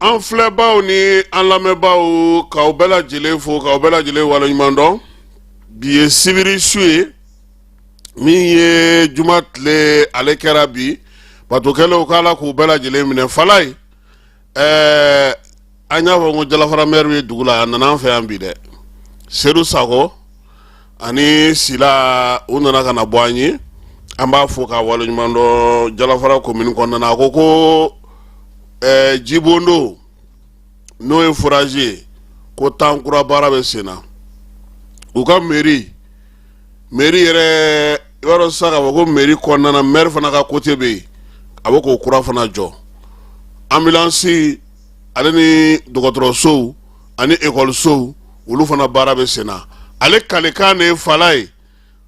an filɛbaw ni an lamɛnbaw k'aw bɛɛ lajɛlen fo k'aw bɛɛ lajɛlen waleɲuman dɔn bi ye sibiri su ye min ye juma tile ale kɛra bi bato kɛlenw k'ala k'u bɛɛ lajɛlen minɛ falayi ɛɛ an y'a fɔ ko jalafara mɛri bɛ dugu la a nana an fɛ yan bi dɛ sedu sako ani sila u nana ka na bɔ an ye an b'a fo k'a waleɲuman dɔn jalafara komini kɔnɔna a ko ko eh, jibondon n'o ye forazi ye ko tan kura baara bɛ sen na u ka meri meri yɛrɛ i b'a dɔn sisan k'a fɔ ko meri kɔnɔna mɛri fana ka kote bɛ yen a bɛ k'o kura fana jɔ ambulansi ale ni dɔgɔtɔrɔsow ani ekɔlisow olu fana baara bɛ sen na ale kalikan de ye falayi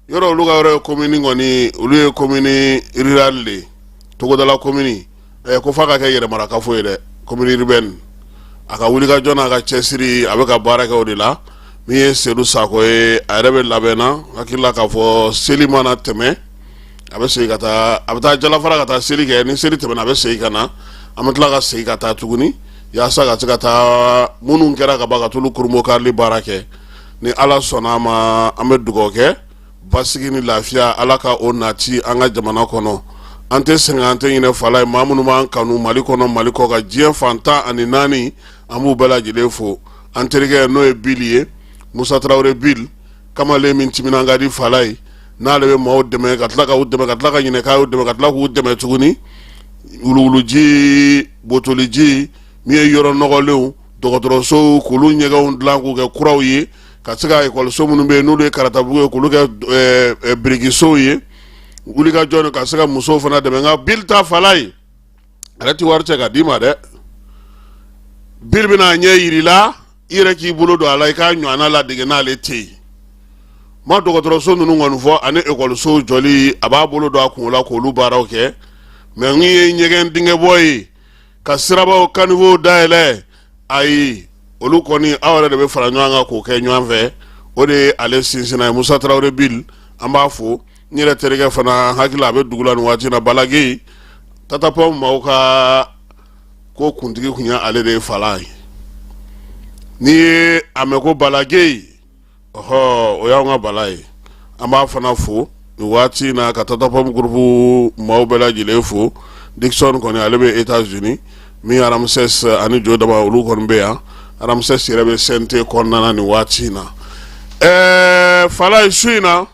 yɔrɔ olu ka yɔrɔ ye komini kɔni olu ye komini rirali de ye togodala komini ɛ ko f'a ka kɛ yɛrɛmarakafo ye dɛ komini iribɛni a ka wulikajɔ n'a ka cɛsiri a bɛ ka baara kɛ o de la min ye sedu sako ye a yɛrɛ bɛ labɛn na hakili la k'a fɔ seli mana tɛmɛ a bɛ segin ka taa a bɛ taa jalafara ka taa seli kɛ ni seli tɛmɛna a bɛ segin ka na an bɛ tila ka segin ka taa tuguni yaasa ka se ka taa minnu kɛra ka ban ka t'olu kurubonkarili baara kɛ ni ala sɔnna a ma an bɛ dugawu kɛ basigi ni lafiya ala ka o nati an ka jamana kɔnɔ an tɛ sɛgɛn an tɛ ɲinɛ falayi maa minnu b'an kanu mali kɔnɔ mali kɔkan diɲɛ fan tan ani naani an b'u bɛɛ lajɛlen fo an terikɛ n'o ye bili ye musa tarawele bili kamalen min timinan ka di falayi n'ale bɛ maaw dɛmɛ ka tila k'u dɛmɛ ka tila ka ɲinɛ k'a y'u dɛmɛ ka tila k'u dɛmɛ tuguni wuluwuluji botoliji min ye yɔrɔ nɔgɔlenw dɔgɔtɔrɔsow k'olu ɲɛgɛnw dilan k'u kɛ kuraw ye ka se ka ekɔliso minnu bɛ yen n'olu ye karatabugu ye k'olu kɛ eh, eh, birikisow ye wulikajɔ ka se ka musow fana dɛmɛ nka bili ta falayi a yɛrɛ ti wari cɛ k'a d'i ma dɛ bili bɛn'a ɲɛ yir'i la i yɛrɛ k'i bolo don a la i k'a ɲɔgɔnna ladege n'ale tɛ yen ma dɔgɔtɔrɔso ninnu kɔni fɔ ani ekɔlisow jɔli a b'a bolo don a kun la k'olu baaraw kɛ mɛ min ye ɲɛgɛn dingɛbɔ ye ka sirabaw kanivow dayɛlɛ ayi olu kɔni aw yɛrɛ de bɛ fara ɲɔgɔn kan k'o kɛ ɲɔgɔn fɛ o de ye ale sinsinnan ye musa tarawele bili an b'a fo n yɛrɛ terikɛ fana hakili la a bɛ dugu la nin waati in na balaki tatapɔ maaw ka ko kuntigi tun ye ale de ye falayi n'i ye a mɛn ko balaki ɔhɔ o y'an ka bala ye an b'a fana fo nin waati na ka tatapɔ gurupu maaw bɛɛ lajɛlen fo dikisɔn kɔni ale bɛ etazuni min aramusɛs ani jo dama olu kɔni bɛ yan aramusɛs yɛrɛ bɛ seɛnte kɔnɔna na nin waati in na ɛɛ falayi su in na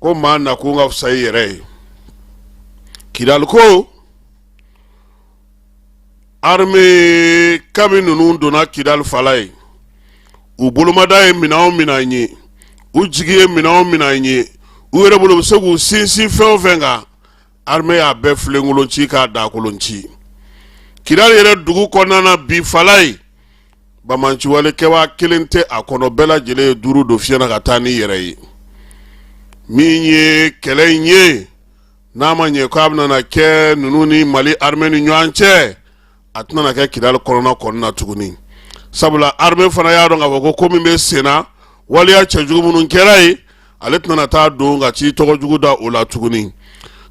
ko maa nakun ka fisa i yɛrɛ ye kidali ko arme kabi ninnu donna kidali fala ye u bolomada ye minɛn o minɛn ye u jigi ye minɛn o minɛn ye u yɛrɛ bolo u bɛ se k'u sinsin fɛn o fɛn kan armée y'a bɛɛ filenkolon ci k'a dakolon ci kidali yɛrɛ dugu kɔnɔna na bi fala ye bamanciwale kɛbaa kelen tɛ a kɔnɔ bɛɛ lajɛlen ye duuru don fiɲɛ na ka taa ni yɛrɛ ye min ye kɛlɛ in ye n'a ma ɲɛ k'a bɛna kɛ ninnu ni mali armée ni ɲɔgɔn cɛ a tɛna kɛ kidali kɔnɔna kɔnɔna na tuguni sabula arme fana y'a dɔn k'a fɔ ko ko min bɛ senna waliya cɛjugu minnu kɛra ye ale tɛna taa don ka ci tɔgɔ jugu da o la tuguni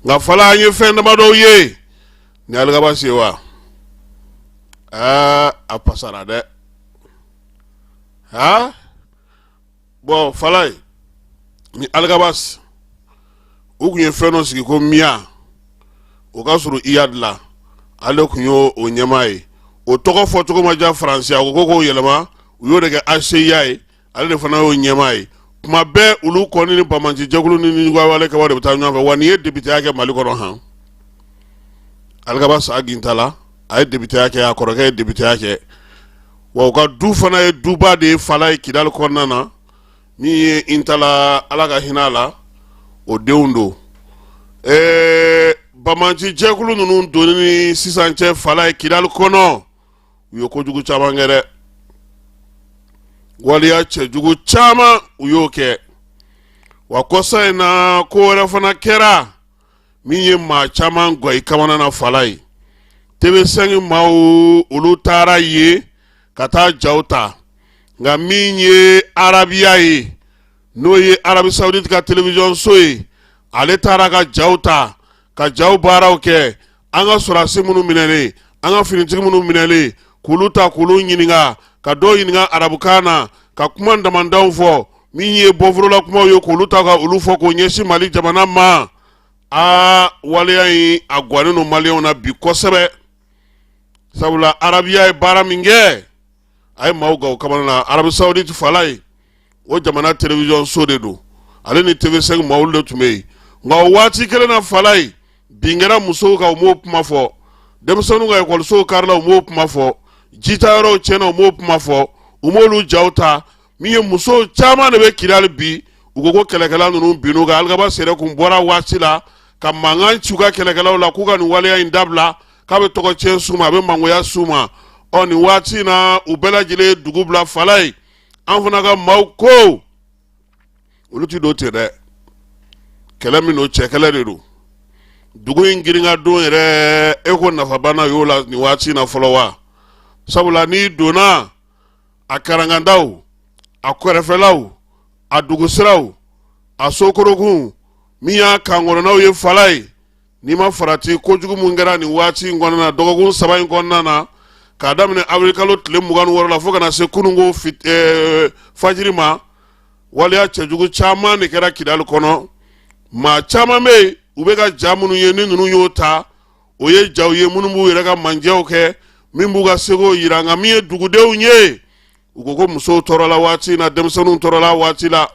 nka fala an ye fɛn damadɔw ye ni alikabasi ye wa a pasara dɛ bɔn fala ye ni alikabasi u tun ye fɛn dɔ sigi ko miya o ka surun iyadi la ale tun y'o ɲɛmaa ye o tɔgɔ fɔ cogo ma diya faransi a ko ko k'o yɛlɛma u y'o de kɛ hcua ye ale de fana y'o ɲɛmaa ye tuma bɛɛ olu kɔni ni bamanci jɛkulu ni ɲuguwale kɛbaaw de bɛ taa ɲɔgɔn fɛ wa nin ye depiteya kɛ mali kɔnɔ han alikabasi ag intala a ye depiteya kɛ a kɔrɔkɛ ye depiteya kɛ wa u ka du fana ye duba de ye fala ye kidali kɔnɔna na min ye intala ala ka hinɛ a la o denw don ɛɛ bamanci jɛkulu ninnu donni ni sisan cɛ fala ye kidali kɔnɔ u ye kojugu caman kɛ dɛ waliya cɛjugu caman u y'o kɛ wa kɔsa in na ko wɛrɛ fana kɛra min ye maa caman gan i kamana na fala ye tv5 maaw olu taara ye ka taa jaw ta nka min ye arabiya ye n'o ye arabie saoudite ka television so ye ale taara ka jaw ta ka jaw baaraw kɛ an ka sɔrɔdasi minnu minɛlen an ka finitigi minnu minɛlen k'olu ta k'olu ɲininka ka dɔw ɲininka arabukan na ka kuma damandanw fɔ min ye bɔfla kumaw ye k'olu ta ka olu fɔ k'o ɲɛsin mali jamana ma a waleya in a gannen don maliyɛnw na bi kosɛbɛ sabula arabiya ye baara min kɛ a ye maaw gan u kamana na arabie saoudite fala ye o jamana television so de don ale ni tv5 maaw de tun bɛ yen nka o waati kelen na fala ye bin kɛra musow kan u m'o kuma fɔ denmisɛnninw ka ekɔlisow karila u m'o kuma fɔ jita yɔrɔw tiɲɛna u m'o kuma fɔ u m'olu jaw ta min ye muso caman de bɛ kidali bi u ko ko kɛlɛkɛla ninnu binn'u kan alikabasi yɛrɛ kun bɔra waati la ka mankan ci u ka kɛlɛkɛlaw la k'u ka nin waleya in dabila k'a bɛ tɔgɔ tiɲɛ s'u ma a bɛ mangoya s'u ma ɔ nin waati in na u bɛɛ lajɛlen ye dugu bila falaye an fana ka maaw ko olu tɛ don ten dɛ kɛlɛ min don cɛ kɛlɛ de don dugu in girin ka don yɛrɛ e ko nafaba na y'o la nin waati in na fɔlɔ wa sabula n'i donna a karankandaw a kɛrɛfɛlaw a dugusiraw a sokorokun min y'a kankɔnɔnaw ye falaye n'i ma farati kojugu min kɛra nin waati in kɔnɔna na dɔgɔkun saba in kɔnɔna na k'a daminɛ awirikalo tile mugan ni wɔɔrɔ la fo ka na se kunun ko eh, fajiri ma waleya cɛjugu caman de kɛra kidali kɔnɔ maa caman bɛ yen u bɛ ka ja minnu ye ni ninnu y'o ta o ye ja ye minnu b'u yɛrɛ ka manjaw kɛ min b'u ka seko jira nka min ye dugudenw ye u ko ko musow tɔɔrɔla waati na denmisɛnninw tɔɔrɔla waati la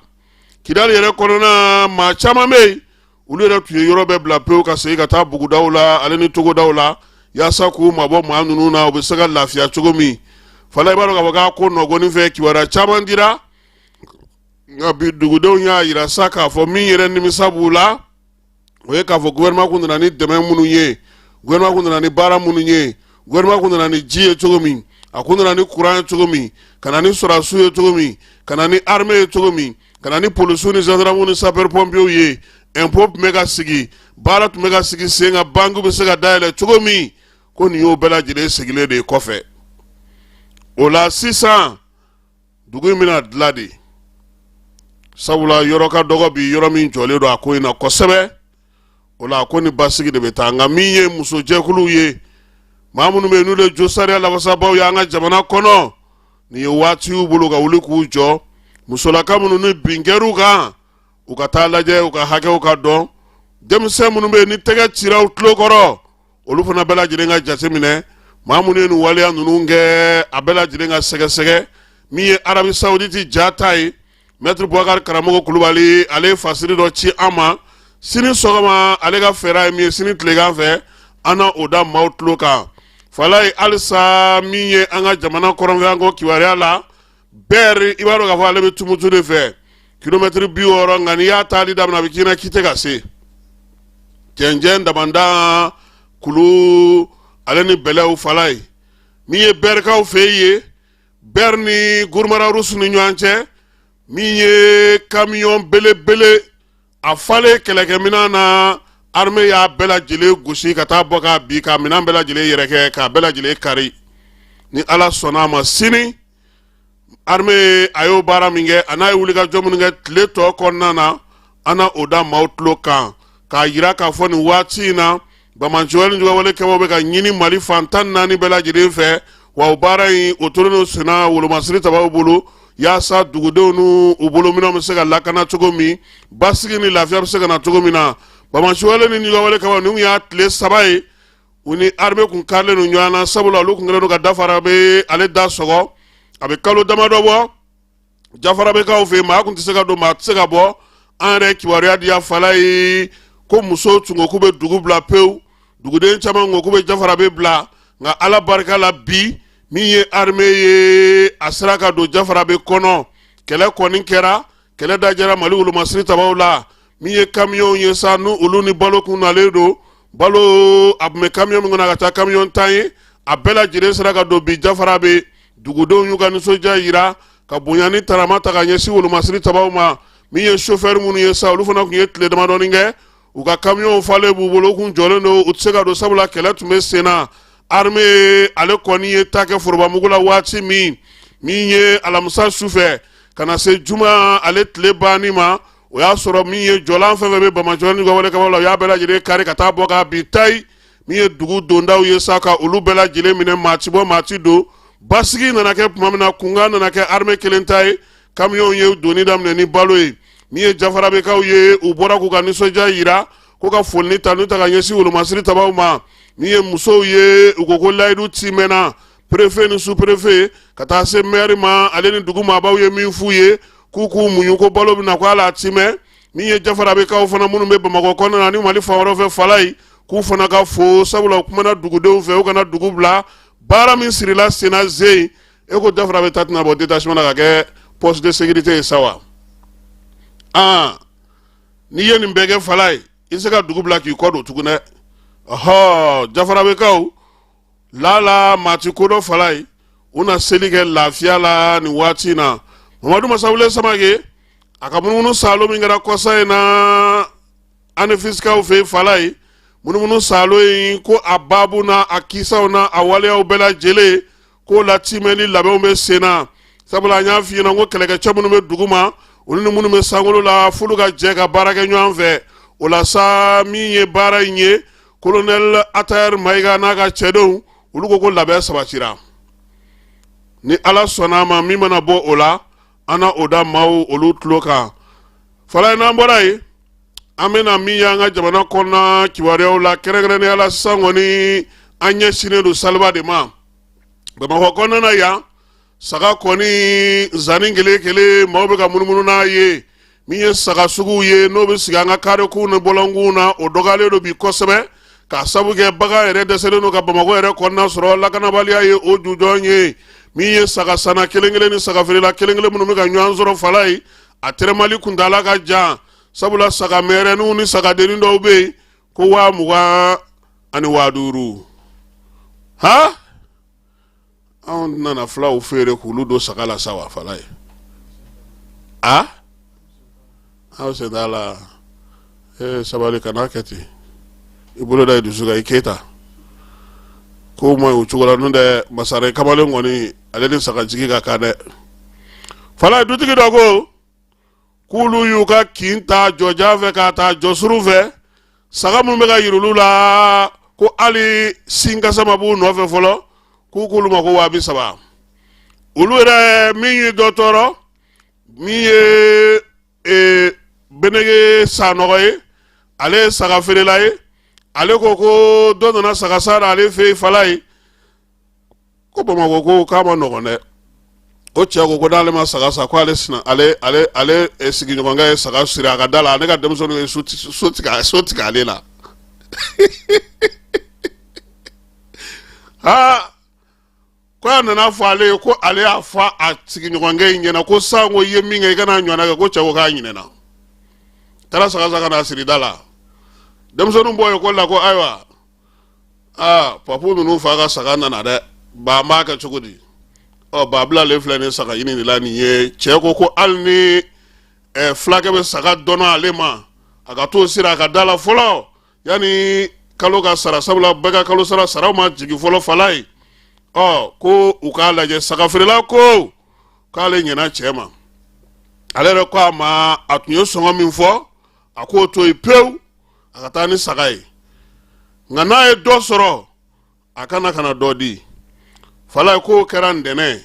kidali yɛrɛ kɔnɔna maa caman bɛ yen olu yɛrɛ tun ye yɔrɔ bɛɛ bila pewu ka segin ka taa bugudaw la ale ni togodaw la yaasa k'u mabɔ maa ninnu na u bɛ se ka lafiya cogo min falaye i b'a dɔn k'a fɔ k'a ko nɔgɔnin fɛ kibaruya caman dira nka bi dugudenw y'a jira sa k'a fɔ min yɛrɛ nimisa b'u la o ye k'a fɔ gouvernement kun nana ni dɛmɛ minnu ye gouvernement kun nana ni baara minnu ye gouvernement kun nana ni ji ye cogo min a kun nana ni courant ye cogo min ka na ni sɔrɔdasiw ye cogo min ka na ni armée ye cogo min ka na ni polisiw ni gendarmew ni sapeur pompiers ye impôt tun bɛ ka sigi baara tun bɛ ka sigi sen kan banque bɛ se ka dayɛlɛ cogo min ko nin y'o bɛɛ lajɛlen seginnen de ye kɔfɛ o la sisan dugu in bɛna dilan de sabula yɔrɔ ka dɔgɔ bi yɔrɔ min jɔlen don a ko in na kosɛbɛ o la a ko ni basigi de bɛ taa nka min ye musojɛkuluw ye maa minnu bɛ yen n'u de josariya lafasabaaw ye an ka jamana kɔnɔ nin ye waati y'u bolo ka wuli k'u jɔ musolaka minnu ni bin kɛr'u kan u ka taa lajɛ u ka hakɛw ka dɔn denmisɛn minnu bɛ yen ni tɛgɛ cira u tulo kɔrɔ olu fana bɛɛ lajɛlen ka jateminɛ maa minnu ye nin waleya ninnu kɛ a bɛɛ lajɛlen ka sɛgɛsɛgɛ min ye arabi sawuditi ja ta ye mɛtiri bubakari karamɔgɔ kulubali ale ye fasiri dɔ ci an ma sini sɔgɔma ale ka fɛɛrɛ ye min ye sini tilegan fɛ an na o da maaw tulo kan falaye halisa min ye an ka jamana kɔrɔnfɛ yan ko kibaruya la bɛri i b'a dɔn k'a fɔ ale bɛ tumutu de fɛ kilomɛtiri bi wɔɔrɔ nka n'i y'a taali daminɛ a bɛ k'i na k'i tɛ ka se cɛncɛn daman de kulu ale ni bɛlɛw falaye min ye bɛrikaw fɛ ye bɛri ni guruma rarusu ni ɲɔgɔn cɛ min ye kamiyɔn belebele a falen kɛlɛkɛminɛn na arme y'a bɛɛ lajɛlen gosi ka taa bɔ k'a bin k'a minɛn bɛɛ lajɛlen yɛrɛkɛ k'a bɛɛ lajɛlen kari ni ala sɔnna a ma sini arme a y'o baara min kɛ a n'a ye wulikajɔ minnu kɛ tile tɔ kɔnɔna na an na o da maaw tulo kan k'a yira k'a fɔ nin waati in na banbaanciwale ni juguyawale kɛbaw bɛ ka ɲini mali fan tan ni naani bɛɛ lajɛlen fɛ wa o baara in o tolen don senna wolomasiri tabaw bolo yaasa dugudenw n'u bolominɛnw bɛ se ka lakana cogo min basigi ni lafiya bɛ se ka na cogo min na banbaanciwale ni juguyawale kɛbaw ninnu y'a tile saba ye u ni arme kun karilen don ɲɔgɔn na sabula olu kun kɛlen don ka jafarabe ale da sɔgɔ a bɛ kalo damadɔ bɔ jafarabekaw fɛ yen maa tun tɛ se ka don maa tɛ se ka bɔ an yɛrɛ kibaruya di yan falayi ko musow tun ko k'u bɛ dugu bila pewu duguden caman tun ko k'u bɛ jafarabe bila nka ala barika la bi min ye arme ye a sera ka don jafarabe kɔnɔ kɛlɛ kɔni kɛra kɛlɛ dajɛra mali wolomasiri tabaw la min ye kamiyɔnw ye sa n'u olu ni balo kun nalen don balo a tun bɛ kamiyɔn min kɔnɔ ka ca kamiyɔn tan ye a bɛɛ lajɛlen sera ka don bi jafarabe dugudenw y'u ka nisɔndiya yira ka bonya ni karama ta ka ɲɛsin wolomasiri tabaw ma min ye sofɛri minnu ye sa olu fana tun ye tile damadɔni kɛ u ka kamiyɔnw falen b'u bolo u kun jɔlen don u tɛ se ka don sabula kɛlɛ tun bɛ sen na arme ale kɔni ye ta kɛ forobamugu la waati min min ye alamisa sufɛ ka na se juma ale tile banni ma o y'a sɔrɔ min ye jɔlan fɛn fɛn bɛ banbaanciwale ni juguyawale kɛbaw la u y'a bɛɛ lajɛlen kari ka taa bɔ k'a bin tayi min ye dugu dondaw ye sa ka olu bɛɛ lajɛlen minɛ maa ti bɔ maa ti don basigi nana kɛ tuma min na kungo nana kɛ armée kelen ta ye kamiyɔnw ye donni daminɛ ni balo ye min ye jafarabekaw ye u bɔra k'u ka nisɔndiya yira ko ka foli ni tanu ta ka ɲɛsin wolomasiri tabaw ma min ye musow ye u ko ko layidu timɛna perefe ni superefe ka taa se mɛri ma ale ni dugu maabaw ye min f'u ye k'u k'u muɲu ko balo bɛna ko ala timɛ min ye jafarabekaw fana minnu bɛ bamakɔ kɔnɔna na ni mali fan wɛrɛ fɛ falayi k'u fana ka fo sabula u kumana dugudenw fɛ u kana dugu bila baara min sirila senna zeyi e ko jafarabe ta tɛna bɔ détachement na ka kɛ poste de sécurité ye sa wa aa n'i ye nin bɛɛ kɛ falayi i se ka dugu bila k'i kɔ don tugun dɛ ɔhɔ jafarabekaw lala mati kodɔ falayi u na seli kɛ lafiya la ni waati in na mamadu masawule samake a ka munumunu salo min kɛra kɔsa in na anefisikaw fɛ falayi munumunu salo in ko a babu n'a kisaw n'a waleyaw bɛɛ lajɛlen k'o latimɛli labɛnw bɛ sen na sabula an y'a f'i ɲɛna ko kɛlɛkɛcɛ minnu bɛ duguma olu ni minnu bɛ sankolo la f'olu ka jɛ ka baara kɛ ɲɔgɔn fɛ o la sa min ye baara in ye kolonɛl atayɛri mayiga n'a ka cɛdenw olu ko ko labɛn sabatira ni ala sɔnna a ma min mana bɔ o la an na o da maaw olu tulo kan falayi n'an bɔra yen an bɛna min y'an ka jamana kɔnɔna kibaruyaw la kɛrɛnkɛrɛnnenya la sisan kɔni an ɲɛsinnen don saliba de ma bamakɔ kɔnɔna na yan saga kɔni zanni kelen kelen maaw bɛ ka munumunu n'a ye min ye saga suguw ye n'o bɛ sigi an ka karekunw ni bɔlɔnkunw na o dɔgɔyalen don bi kosɛbɛ k'a sabu kɛ bagan yɛrɛ dɛsɛlen don ka bamakɔ yɛrɛ kɔnɔna sɔrɔ lakanabaliya ye o jujɔn ye min ye saga sanna kelen kelen ni sagafeerela kelen kelen minnu bɛ ka ɲɔgɔn sɔrɔ falayi a tɛrɛmali kuntaala ka jan sabula saga mɛrɛninw ni sagadennin dɔw bɛ yen ko waa mugan ani waa duuru ha anw nana fulaw feere k'olu don saga la sa wa falayi a aw sen t'a la ee sabali kana kɛ ten i bolo da i dusu kan i keyita ko ma o cogo la n'o tɛ masaren kamalen kɔni ale ni sagajigi ka kan dɛ falayi dutigi dɔ ko k'olu y'u ka kin ta jɔjan fɛ k'a ta jɔsuru fɛ saga minnu bɛ ka yir'olu la ko hali sinkasa ma b'u nɔfɛ fɔlɔ k'u k'olu ma ko waa bi saba olu yɛrɛ min ye dɔ tɔɔrɔ min ye e, benege sanɔgɔ ye ale ye saga feerela ye ale ko ko dɔ nana saga sa ale fɛ yen falayi ko bamakɔ ko k'a man nɔgɔn dɛ o cɛ ko ko n'ale ma saga sa ko ale sina ale ale ale eh, sigiɲɔgɔnkɛ ye saga siri a ka da la ne ka denmisɛnninw ye so tigɛ so tigɛ ale la aa ko a nana fɔ ale ye ko ale y'a fɔ a sigiɲɔgɔnkɛ in ɲɛna ko san ko i ye min kɛ i kana ɲɔgɔnna kɛ ko cɛ ko k'a ɲinɛna taara saga sa ka n'a siri da la denmisɛnninw bɔ ekɔli la ko ayiwa aa papu ninnu fa ka saga nana dɛ ba an b'a kɛ cogo di ɔ ba bilalen filɛ nin saga ɲini de la nin ye cɛ ko ko hali ni ɛ fulakɛ bɛ saga dɔnɔ ale ma a ka t'o siri a ka da la fɔlɔ yanni kalo ka sara sabula bɛɛ ka kalo sara saraw ma jigin fɔlɔ falayi ɔ ko u k'a lajɛ saga feerela ko k'ale ɲɛna cɛ ma ale yɛrɛ ko a ma a tun ye sɔngɔ min fɔ a k'o to yen pewu a ka taa ni saga ye nka n'a ye dɔ sɔrɔ a ka na ka na dɔ di falayi k'o kɛra ntɛnɛn ye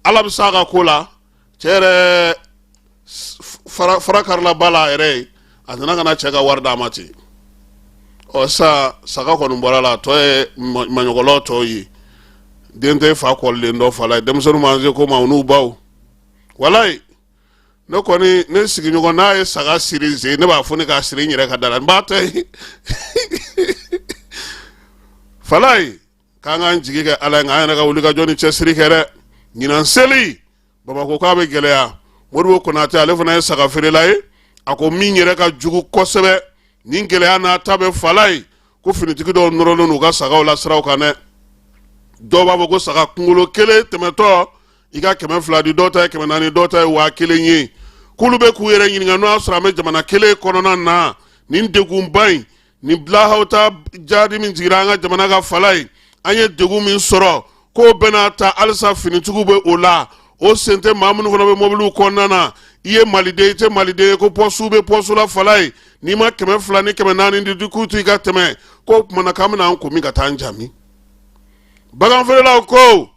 ala bɛ s'a ka ko la cɛ yɛrɛ fara karila ba la a yɛrɛ ye a nana ka na cɛ ka wari d'a ma ten ɔ sa saga kɔni bɔra la a tɔ ye maɲɔgɔnlɔ tɔw ye den tɛ fa kɔlilen dɔn falayi denmisɛnninw ma se ko ma u n'u baw walayi ne kɔni ne sigiɲɔgɔn n'a ye saga siri n sen ne b'a fɔ ne k'a siri n yɛrɛ ka da la n b'a ta ye falayi k'an k'an jigi kɛ ala ye nka an yɛrɛ ka wulikajɔ ni cɛsiri kɛ dɛ ɲinan seli bamakɔ k'a bɛ gɛlɛya modibo konatɛ ale fana ye saga feerela ye a ko min yɛrɛ ka jugu kosɛbɛ nin gɛlɛya n'a ta bɛɛ falayi ko finitigi dɔw nɔrɔlen u ka sagaw la siraw kan dɛ dɔw b'a fɔ ko saga kunkolo kelen tɛmɛtɔ i ka kɛmɛ fila di dɔw ta ye kɛmɛ naani dɔw ta ye waa kelen ye k'olu bɛ k'u yɛrɛ ɲininka n'o y'a sɔrɔ an bɛ jamana kelen kɔnɔna na nin degunba in nin bilahawta jadi min jigira an ka jamana kan falayi an ye degun min sɔrɔ k'o bɛɛ n'a ta halisa finitigiw bɛ o la o sen tɛ maa minnu fana bɛ mɔbiliw kɔnɔna na i ye maliden i tɛ maliden ye ko pɔsiw bɛ pɔsiw la falayi n'i ma kɛmɛ fila ni kɛmɛ naani di di k'u to i ka tɛmɛ k'o kumana k'an bɛna an kun min ka taa an jami baganfeerelaw ko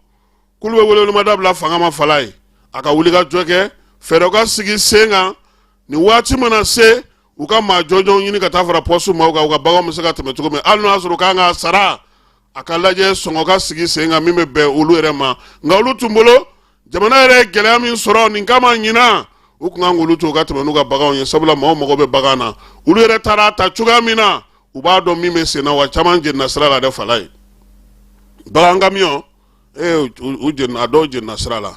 k'olu bɛ welewelemada bila fanga ma falayi a ka wulikajɔ kɛ fɛɛrɛw ka sigi sen kan nin waati mana se u ka maa jɔnjɔnw ɲini ka taa fara pɔsu maaw kan u ka baganw bɛ se ka tɛmɛ cogo min hali n'o y'a sɔrɔ k'an ka sara a ka lajɛ sɔngɔ ka sigi sen kan min bɛ bɛn olu yɛrɛ ma nka olu tun bolo jamana yɛrɛ ye gɛlɛya min sɔrɔ nin kama ɲinan u tun kan k'olu to ka tɛmɛ n'u ka baganw ye sabula maaw mago bɛ bagan na olu yɛrɛ taara a ta cogoya min na u b'a dɔn min bɛ sen na wa caman jenina sira la dɛ falayi bagan kamiyɔn dɔw jenina sira la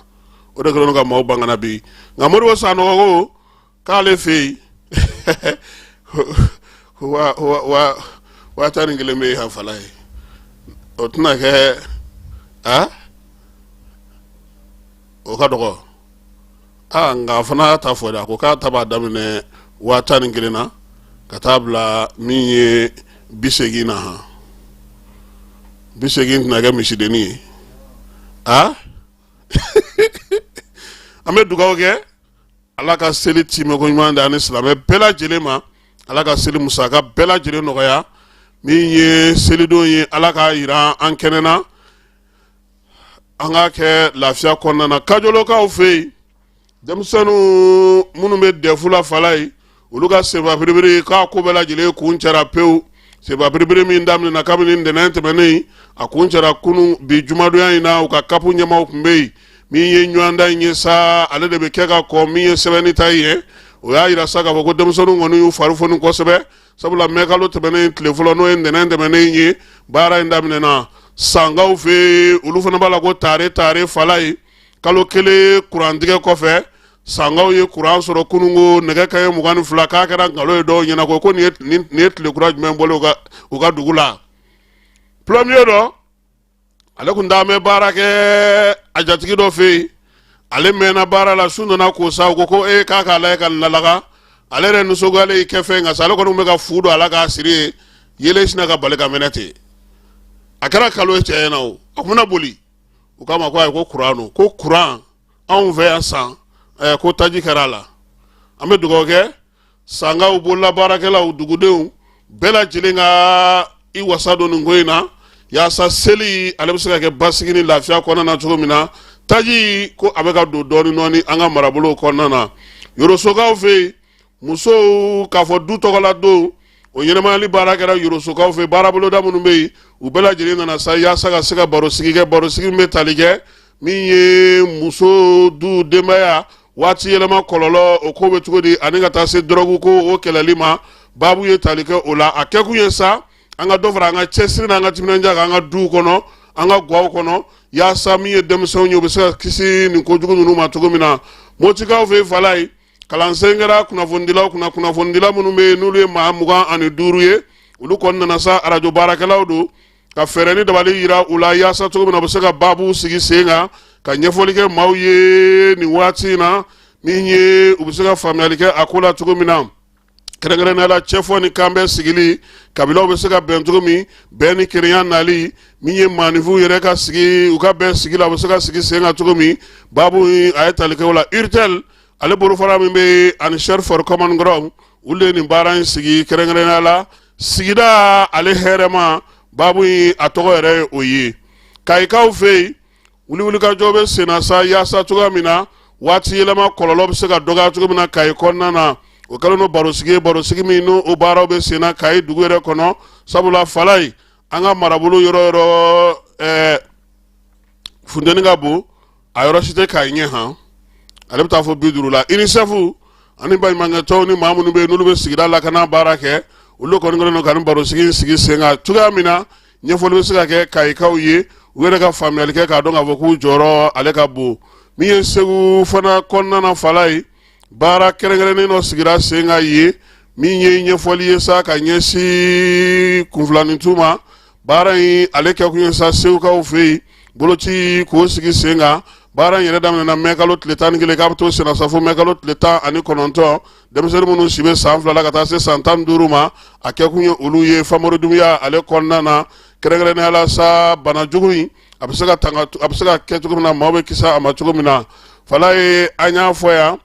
o de kɛlen ka maaw bange bi nka moriba sanɔgɔ ko k'ale fɛ yen waa tan ni kelen bɛ yen han falayi o tɛna kɛ a o ka dɔgɔ aa nka a fana y'a ta fɔ dɛ a ko k'a ta b'a daminɛ waa tan ni kelen na ka taa bila min ye bi seegin na han bi seegin tɛna kɛ misidenni ye a an bɛ dugawu kɛ ala ka seli timɛko ɲuman di an ni silamɛ bɛɛ lajɛlen ma ala ka seli musaka bɛɛ lajɛlen nɔgɔya min ye selidon ye ala k'a jira an kɛnɛ na an k'a kɛ lafiya kɔnɔna na kajɔlɔkaw fɛ yen denmisɛnninw minnu bɛ dɛfu la falayi olu ka sebabiribiri k'a ko bɛɛ lajɛlen kuncɛra pewu sebabiribiri min daminɛna kabini ntɛnɛn tɛmɛnen a kuncɛra kunun bi jumadonya in na u ka kapu ɲɛmaaw tun bɛ yen min ye ɲɔgɔndan in ye sa ale de bɛ kɛ ka kɔn min ye sɛbɛnni ta ye o y'a jira sa k'a fɔ ko denmisɛnninw kɔni y'u fari foni kosɛbɛ sabula mɛ kalo tɛmɛnen tile fɔlɔ n'o ye ntɛnɛn tɛmɛnen ye baara in daminɛna sankaw fɛ olu fana b'a la ko tare tare falayi kalo kelen kurantigɛ kɔfɛ sankaw ye kuran sɔrɔ kununko nɛgɛ kanɲɛ mugan ni fila k'a kɛra nkalon ye dɔw ɲɛ na ko ko nin ye tile kura jumɛn bɔlen u ka dugu la pulɔmiye dɔ ale kun t'an bɛ baara kɛ a jatigi dɔ fɛ yen ale mɛnna baara la su nana ko sa ko ko e k'a k'a lajɛ ka lalaga ale yɛrɛ nisɔngoyalen y'i kɛ fɛn kan sa ale kɔni bɛ ka fu don a la k'a siri yeelen sinna ka bali ka mɛnɛ ten a kɛra kalo ye cɛ ɲɛ na o a kun bɛna boli u k'a ma ko ayi ko kuran don ko kuran anw fɛ yan san ɛɛ ko taji kɛra a la an bɛ dugawu kɛ sankaw bolola baarakɛlaw dugudenw bɛɛ lajɛlen ka i wasa don nin ko in na yaasa seli ale bɛ se ka kɛ basigi ni lafiya kɔnɔna na cogo min na taji ko a bɛ ka don dɔɔnin dɔɔnin an ka marabolo kɔnɔna na yorosokaw fɛ yen musow k'a fɔ du tɔgɔla don o ɲɛnɛmayali baara kɛra yorosokaw fɛ baaraboloda minnu bɛ yen u bɛɛ lajɛlen nana sa yaasa ka se ka barosigi kɛ barosigi min bɛ tali kɛ min ye muso du denbaya waati yɛlɛma kɔlɔlɔ o ko bɛ cogo di ani ka taa se dɔrɔgu ko o kɛlɛli ma baabu ye tali kɛ o la a kɛkun ye sa an ka dɔ fara an ka cɛsiri n'an ka timinanja kan an ka duw kɔnɔ an ka gwaw kɔnɔ yaasa min ye denmisɛnw ye u bɛ se ka kisi nin kojugu ninnu ma cogo min na motikaw fɛ fala ye kalansen kɛra kunnafonidilaw kunna kunnafonidila minnu bɛ yen n'olu ye maa mugan ani duuru ye olu kɔni nana sa arajo baarakɛlaw don ka fɛɛrɛ ni dabali yira u la yaasa cogo min na u bɛ se ka baabu sigi sen kan ka ɲɛfɔli kɛ maaw ye nin waati in na min ye u bɛ se ka faamuyali kɛ a ko la cogo min na kɛrɛnkɛrɛnnenya la cɛfɔ ni kanbɛn sigili kabilaw bɛ se ka bɛn cogo min bɛn ni kelenya nali min ye maaninfinw yɛrɛ ka sigi u ka bɛn sigi la u bɛ se ka sigi sen kan cogo min baabu in a ye tali kɛ o la urtel ale bolofara min bɛ ani search for common ground olu de ye nin baara in sigi kɛrɛnkɛrɛnnenya la sigida ale hɛrɛma baabu in a tɔgɔ yɛrɛ ye o ye kayikaw fɛ yen wuli wulikajɔ bɛ senna sa yaasa cogoya min na waati yɛlɛma kɔlɔlɔ bɛ se ka dɔgɔya cogo min na kayi kɔnɔna na o kɛlen don barosigi ye barosigi min ni o baaraw bɛ senna kayi dugu yɛrɛ kɔnɔ sabula fala ye an ka marabolo yɔrɔ yɔrɔ ɛɛ funteni ka bon a yɔrɔ si tɛ kayi ɲɛ han ale bɛ taa fo bi duuru la unicef ani baɲumankɛtɔnw ni maa minnu bɛ yen n'olu bɛ sigida lakana baara kɛ olu kɔni kɛlen don ka nin barosigi in sigi sen kan cogoya min na ɲɛfɔli bɛ se ka kɛ kayikaw ye u yɛrɛ ka faamuyali kɛ k'a dɔn k'a fɔ k'u jɔyɔrɔ ale ka bon min ye segu fana kɔnɔna na fala ye baara kɛrɛnkɛrɛnnen dɔ sigira sen kan yen min ye ɲɛfɔli ye sa ka ɲɛsin kunfilanintu ma baara in ale kɛ kun ye sa segukaw fɛ yen boloci k'o sigi sen kan baara in yɛrɛ daminɛna mɛkalo tile tan ni kelen k'a to senna sa fo mɛkalo tile tan ani kɔnɔntɔn denmisɛnnin minnu si bɛ san fila ka taa se san tan duuru ma a kɛ kun ye olu ye famori dunbiya ale kɔnɔna na kɛrɛnkɛrɛnnenya la sa bana jugu in a bɛ se ka tanga a bɛ se ka kɛ cogo min na maaw bɛ kisi a ma cogo min na fala ye an y'a fɔ yan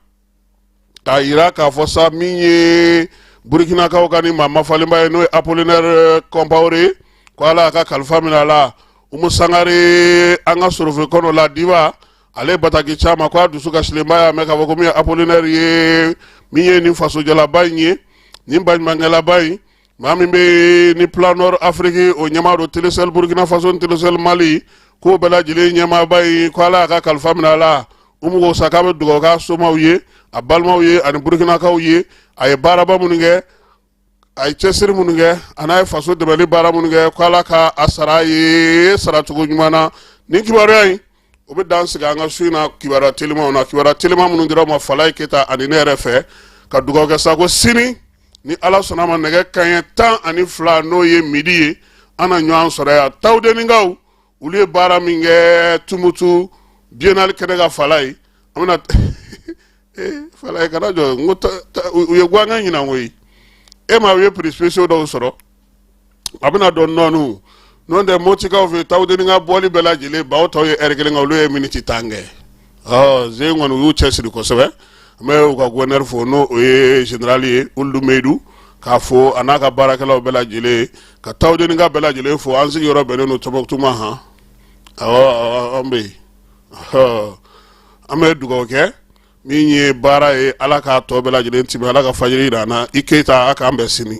k'a yira k'a fɔ sa min ye burikinakaw ka ni maa mafalenba ye n'o ye apolinɛre kɔnpawore ye ko ala y'a ka kalifa minɛ a la umu sangare an ka sorofe kɔnɔ la diba ale bataki ci an ma ko a dusukasilenba y'a mɛn k'a fɔ ko min ye apolinɛre ye min ye nin fasojalaba in ye nin baɲumankɛlaba in maa min bɛ ni planor afiriki o ɲɛmaa don telesɛli burkina faso ni telesɛli mali k'o bɛɛ lajɛlen ɲɛmaaba ye ko ala y'a ka kalifa minɛ a la umu ko sa k'a bɛ dugawu k'a somaw ye a balimaw ye ani burukinakaw ye a ye baaraba minnu kɛ a ye cɛsiri minnu kɛ a n'a ye faso dɛmɛli baara minnu kɛ ko ala ka a sara a ye saracogo ɲuman na nin kibaruya in o bɛ dan sigi an ka su in na kibaruya telimanw na kibaruya teliman minnu dira aw ma falaye keyita ani ne yɛrɛ fɛ ka dugawu kɛ sa ko sini ni ala sɔnna a ma nɛgɛ kanɲɛ tan ani fila n'o ye midi ye an na ɲɔgɔn sɔrɔ yan tawudenikaw olu ye baara min kɛ tumutu biennale kɛnɛ kan falaye an bɛna eh, falaye kana jɔ n ko u ye guwan kɛ ɲinan koyi e ma u ye prix spéciaux dɔw sɔrɔ a bɛna dɔn nɔɔniw n'o tɛ motikaw fɛ tawudeni ka bɔli bɛɛ lajɛlen bawo tɔw ye ɛri kelen kɛ olu ye miniti tan kɛ Ze kɔni u y'u cɛsiri kosɛbɛ an bɛ u ka gouverneur fo n'o ye général ye ould meydou k'a fo a n'a ka baarakɛlaw bɛɛ lajɛlen ka tawudenika bɛɛ lajɛlen fo an sigiyɔrɔ bɛnnen don tumutu ma han ɔ an bɛ yen an bɛ dugawu kɛ min ye baara ye ala k'a tɔ bɛɛ lajɛlen tiimɛ ala ka fajiri jira an na i keyita k'an bɛɛ sini